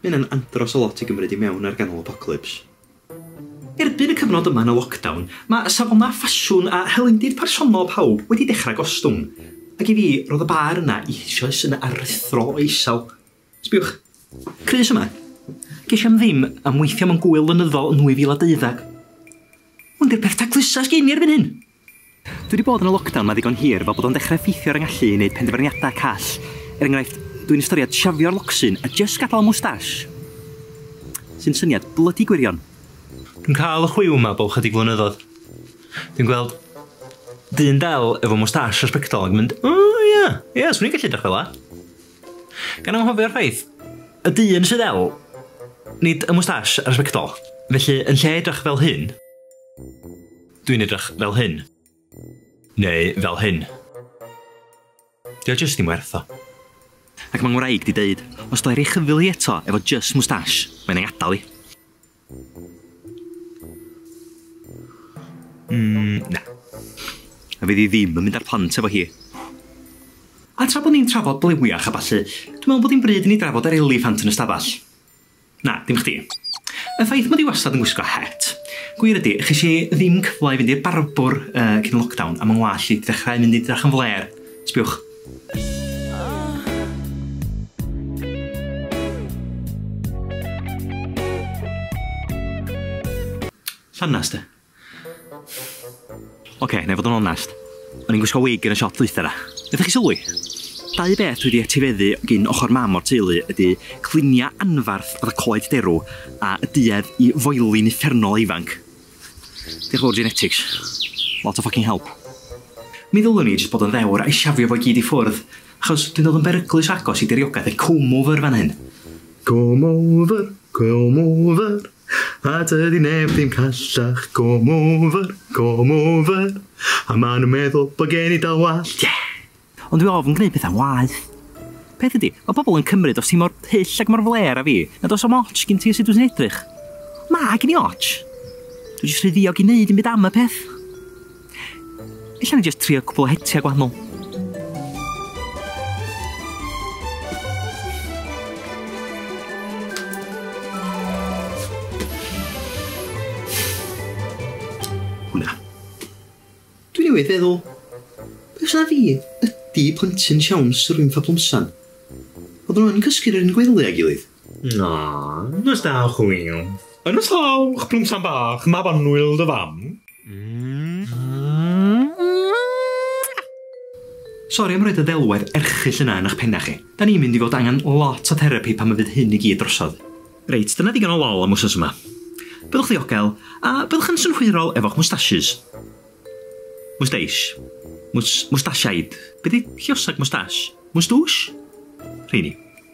Mae hynna'n andros o lot i gymryd i mewn ar ganol apocalyps. Erbyn y cyfnod yma yn y lockdown, mae safonau ffasiwn a hylendid personol pawb wedi dechrau gostwng. Ac i fi, roedd y bâr yna eisoes yn aruthrol o isel. Sbiwch. Crys yma. Ges i am ddim am weithio mewn gŵyl flynyddol yn 2012. Hwn 'di'r peth taclusa sgen i erbyn hyn! Dwi wedi bod yn y lockdown 'ma ddigon hir fel bod o'n dechrau effeithio ar 'y ngallu i wneud penderfyniadau call. Er enghraifft, dwi'n ystyried siafio'r locsyn a jyst gadael mwstash. Sy'n syniad blydi gwirion. Dwi'n cael y chwiw 'ma bob 'chydig flynyddoedd. Dwi'n gweld dyn del efo mwstash a sbectol ac yn mynd, 'O ia, ia, 'swn i'n gallu edrych fela. Gan anghofio'r ffaith, y dyn sydd del, nid y mwstash a'r sbectol. Felly, yn lle edrych fel hyn, Dwi'n edrych fel hyn. Neu fel hyn. Dio o jyst dim werth o. Ac mae ngwraig di deud, os do i roi chyfyl hi eto efo jyst moustache, mae'n ei adal hi. Mm, na. A fydd hi ddim yn mynd ar plant efo hi. A tra bod ni'n trafod blewiach a ballu, dwi'n meddwl bod hi'n bryd i ni drafod yr eliffant yn y stafell. Na, dim chdi. Y ffaith mod i wastad yn gwisgo het. Gwir ydi, ches i ddim cyfle i fynd i'r barbwr yy cyn lockdown a ma' 'ngwallt i 'di dechrau mynd i drach yn flêr. Sbiwch. Llanast de. Ocê, nai fod yn onest. O'n i'n gwisgo wig yn y siop ddwytha 'na. Nathoch chi sylwi? Dau beth dwi 'di etifeddu gin ochor mam o'r teulu ydi clunia anfarth fatha coed derw a y duedd i foeli'n uffernol o ifanc. Diolch yn fowr genetics. Lot o ffycin help. Mi ddylwn i jyst bod yn ddewr a'i shafio fo i gyd i ffwrdd, achos dwi'n dod yn beryglus o agos i diriogaeth y comb over fan hyn. Comb over, comb over. A dydy neb ddim callach Gorm over, gorm over A maen nhw'n meddwl bod gen i dal wallt, yeah! Ond dwi ofn gneud pethau'n waeth. Peth ydy, mae pobl yn cymryd os ti mor hyll ac mor flêr â fi, nad oes o'm otsh gin ti a sut dwyt ti'n edrych. Mae gin i otsh! Dwi jyst rhy ddiog i neud dim byd am y peth. Ella ni jyst trio cwpl o hetiau gwahanol. Hwna. Dwi newydd feddwl, be os na fi ydi plentyn siawns yr un fablwmsan? Oedden nhw yn cysgu yn yr un gwely â'i gilydd. Na, nos da, chwil. Yn nos hawch, plwm sam bach, mab annwyl dy fam. Sori am roed y ddelwedd erchyll yna yn eich pennau chi. Da ni'n mynd i fod angen lot o therapi pan y fydd hyn i gyd drosodd. Reit, dyna ddigon o lol am wsnos yma. Byddwch ddiogel, a byddwch yn synhwyrol efo'ch mwstasys. Mwsteish. Mwstasiaid. Be di lliosag mwstash? Mwstwsh? Rheini.